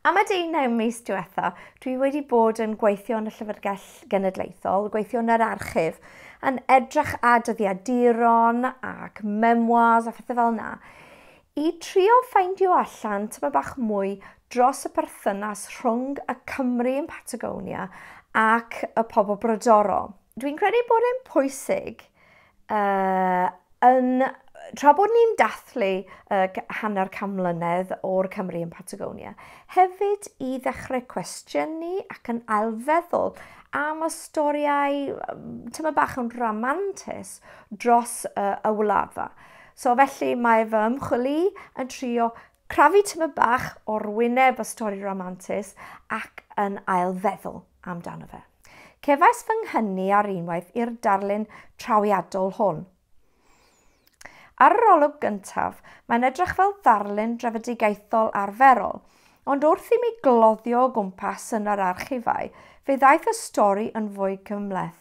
Am y 19 mis diwetha, dwi wedi bod yn gweithio yn y Llyfrgell Genedlaethol, gweithio yn yr archif, yn edrych ar dyddiaduron ac memoirs a phethau fel yna. I drio ffeindio allan tymed bach mwy dros y perthynas rhwng y Cymry yn Patagonia ac y pobl brodorol. Dwi'n credu bod e'n pwysig uh, yn tra bod ni'n dathlu uh, hanner can mlynedd o'r Cymru yn Patagonia, hefyd i ddechrau cwestiynu ac yn ailfeddwl am y storiau tyma bach yn ramantus dros uh, y wlad fa. So felly mae fy ymchwil i yn trio crafu tymed bach o'r wyneb y stori ramantus ac yn ailfeddwl amdano fe. Cefais fy nghynnu ar unwaith i'r darlun trawiadol hwn. Ar yr olwg gyntaf, mae'n edrych fel ddarlun drefedigaethol arferol, ond wrth i mi gloddio o gwmpas yn yr archifau, fe ddaeth y stori yn fwy cymhleth.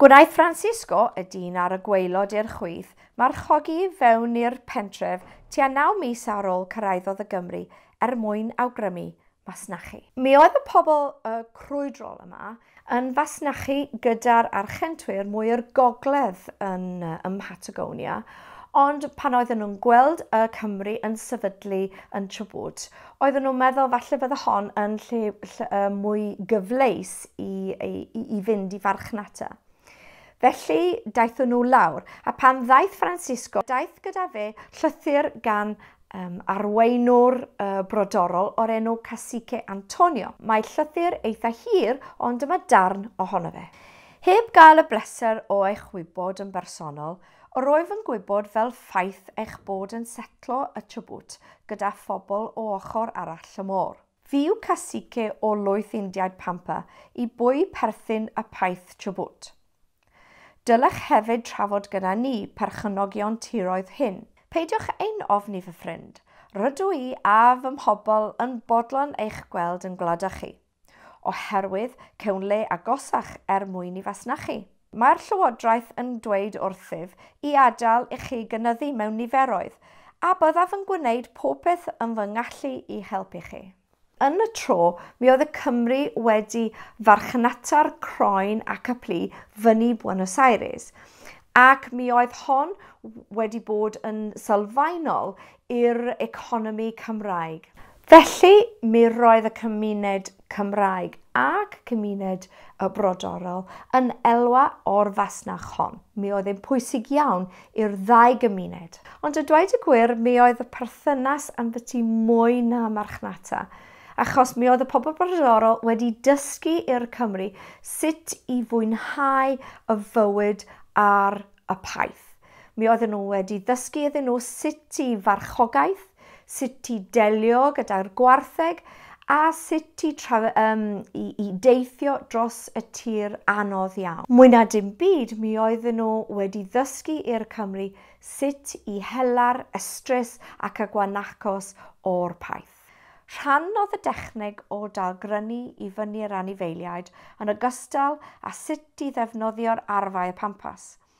Gwnaeth Francisco, y dyn ar y gwaelod i'r chwith, marchogi i fewn i'r pentref tua naw mis ar ôl cyrhaeddodd y Gymru er mwyn awgrymu masnachu. Mi oedd y pobl y crwydrol yma yn fasnachu gyda'r Archentwyr mwy o'r gogledd yn ym Mhatagonia, ond pan oedden nhw'n gweld y Cymry yn sefydlu yn Chubut, Oedden nhw'n meddwl falle fydde hon yn lle, lle uh, mwy gyfleus i, i, i fynd i farchnata. Felly daethon nhw lawr, a pan ddaeth Francisco, daeth gyda fe llythyr gan um, arweinwr uh, brodorol o'r enw Cacique Antonio. Mae llythyr eitha hir, ond dyma darn ohono fe. Heb gael y bleser o eich wybod yn bersonol, Yr wyf yn gwybod fel ffaith eich bod yn setlo y Chubut gyda phobl o ochr arall y môr. Fi yw cacique o lwyth Indiaid Pampa i bwy perthyn y paith Chubut. Dylech hefyd trafod gyda ni, perchynogion tiroedd hyn. Peidiwch ein ofni fy ffrind. Rydw i a fy mhobl yn bodlon eich gweld yn gwlada chi. oherwydd cawn le agosach er mwyn i fasnachu. Mae'r Llywodraeth yn dweud wrthyf i adael i chi gynyddu mewn niferoedd, a byddaf yn gwneud popeth yn fy ngallu i helpu chi. Yn y tro, mi oedd y Cymry wedi farchnata'r croen ac y plu fyny Buenos Aires, ac mi oedd hon wedi bod yn sylfaenol i'r economi Cymraeg. Felly, mi roedd y cymuned Cymraeg ac cymuned y brodorol yn elwa o'r fasnach hon. Mi oedd e'n pwysig iawn i'r ddau gymuned. Ond a dweud y gwir, mi oedd y perthynas ynddyty mwy na marchnata, achos mi oedd y pobl brodorol wedi dysgu i'r Cymry sut i fwynhau y fywyd ar y paith. Mi oedden nhw wedi ddysgu iddyn nhw sut i farchogaeth, sut i delio gyda'r gwartheg a sut i, tra, um, i, i deithio dros y tir anodd iawn. Mwy na dim byd, mi oedden nhw wedi ddysgu i'r Cymry sut i hela'r ystrys ac y gwanacos o'r paith. Rhan oedd y dechneg o dalgrynu i fyny'r anifeiliaid yn ogystal â sut i ddefnyddio'r arfau pampas.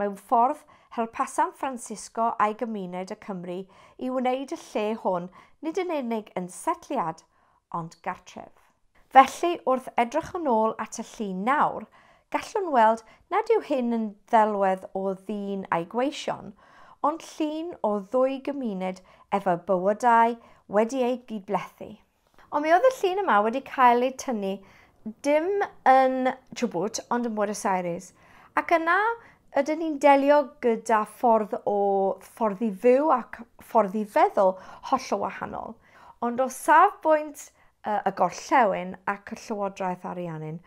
Mewn ffordd, helpasant Francisco a'i gymuned y Cymry i wneud y lle hwn nid yn unig yn setliad, ond gartref. Felly, wrth edrych yn ôl at y llun nawr, gallwn weld nad yw hyn yn ddelwedd o ddyn a'i gweision, ond llun o ddwy gymuned efo bywydau wedi eu gydblethu. Ond mi oedd y llun yma wedi cael ei tynnu dim yn Chubut ond yn Buenos Aires. Ac yna ydyn ni'n delio gyda ffordd o ffordd i fyw ac ffordd i feddwl hollol wahanol. Ond o safbwynt y gorllewin ac y llywodraeth Ariannin,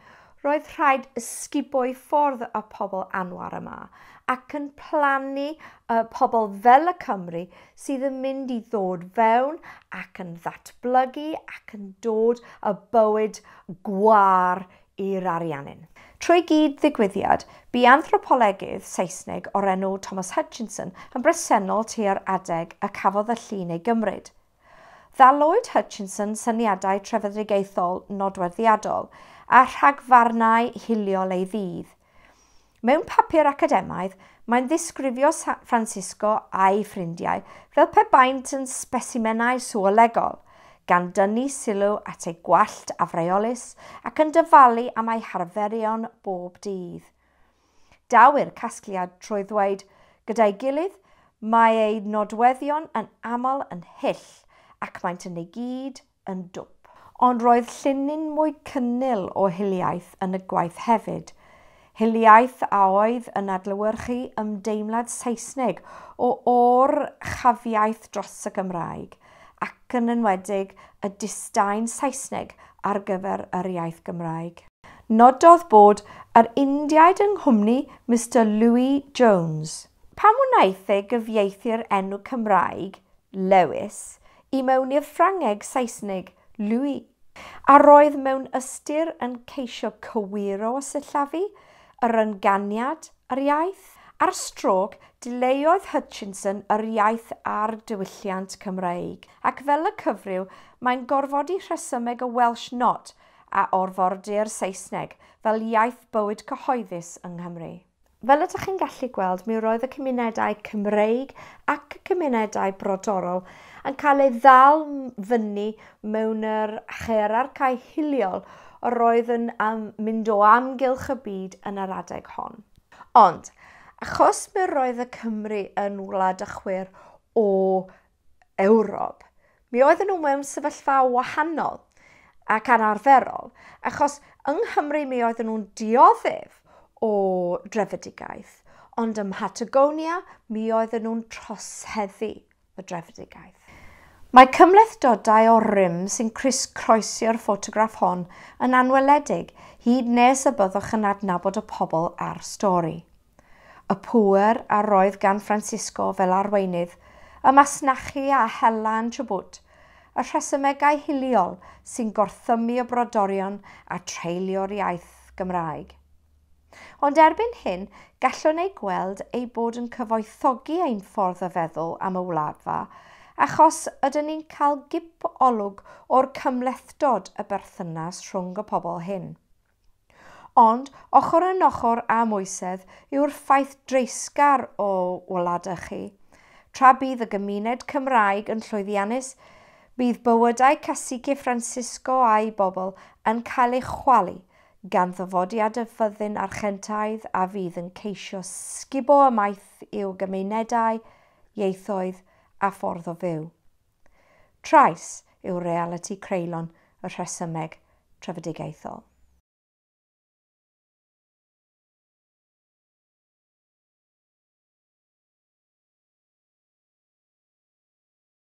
Roedd rhaid ysgubo'i ffordd y pobl anwar yma, ac yn plannu y pobl fel y Cymry sydd yn mynd i ddod fewn ac yn ddatblygu ac yn dod y bywyd gwâr i'r Ariannin. Trwy gyd-ddigwyddiad, bu anthropolegydd Saesneg o'r enw Thomas Hutchinson yn bresennol tua'r adeg y cafodd y llun ei gymryd. Dda Lloyd Hutchinson syniadau trefedigaethol nodweddiadol a rhagfarnau hiliol ei ddydd. Mewn papur academaidd, mae'n ddisgrifio San Francisco a'i ffrindiau fel pe baent yn sbesimenau sŵolegol, gan dynnu sylw at eu gwallt afreolus ac yn dyfalu am eu harferion bob dydd. Daw'r casgliad trwy ddweud gyda'i gilydd, Mae eu nodweddion yn aml yn hyll ac maent yn ei gyd yn dwp. Ond roedd llinyn mwy cynnil o hiliaeth yn y gwaith hefyd, hiliaeth a oedd yn adlewyrchu ymdeimlad Saesneg o or-chafiaeth dros y Gymraeg, ac yn enwedig y disdain Saesneg ar gyfer yr iaith Gymraeg. Nododd bod yr Indiaid yng nghwmni Mister Louis Jones. Pam wnaeth e gyfieithu'r enw Cymraeg, Lewis, i mewn i'r Ffrangeg, Saesneg, Louis? A roedd mewn ystyr yn ceisio cywiro a sillafu yr ynganiad? Ar iaith? Ar strôc, dileuodd Hutchinson yr iaith a'r diwylliant Cymraeg, ac fel y cyfryw, mae'n gorfodi rhesymeg y Welsh Not a orfori'r Saesneg fel iaith bywyd cyhoeddus yng Nghymru. Fel ydych chi'n gallu gweld, mi roedd y cymunedau Cymreig ac y cymunedau brodorol yn cael eu ddal fyny mewn yr hierarchau hiliol yr oedd yn am mynd o amgylch y byd yn yr adeg hon. Ond, achos mi roedd y Cymry yn wlad a chwyr o Ewrob, mi oedden nhw mewn sefyllfa wahanol ac anarferol, achos yng Nghymru mi oedden nhw'n dioddef o drefedigaeth, ond ym Mhatagonia mi oedden nhw'n troseddu. y drefedigaeth. Mae cymhlethdodau o'r rym sy'n crys-croesi'r ffotograff hon yn anweledig, hyd nes y byddwch yn adnabod y pobl a'r stori. Y pŵer a roedd gan Francisco fel arweinydd, y masnachu a hela yn Chubut, y rhesymegau hiliol sy'n gorthymmu y brodorion a treulio'r iaith Gymraeg. Ond erbyn hyn, gallwn eu gweld eu bod yn cyfoethogi ein ffordd o feddwl am y wladfa, achos ydyn ni'n cael gip olwg o'r cymhlethdod y berthynas rhwng y pobl hyn. Ond, ochr yn ochr â moesedd yw'r ffaith dreisgar o wladau chi, tra bydd y gymuned Cymraeg yn llwyddiannus, bydd bywydau Cacique Francisco a'i bobl yn cael ei chwalu gan ddyfodiad y fyddin Archentaidd a fydd yn ceisio sgubo ymaith i'w gymunedau, ieithoedd a ffordd o fyw. Trais yw realiti creulon y rhesymeg trefedigaethol.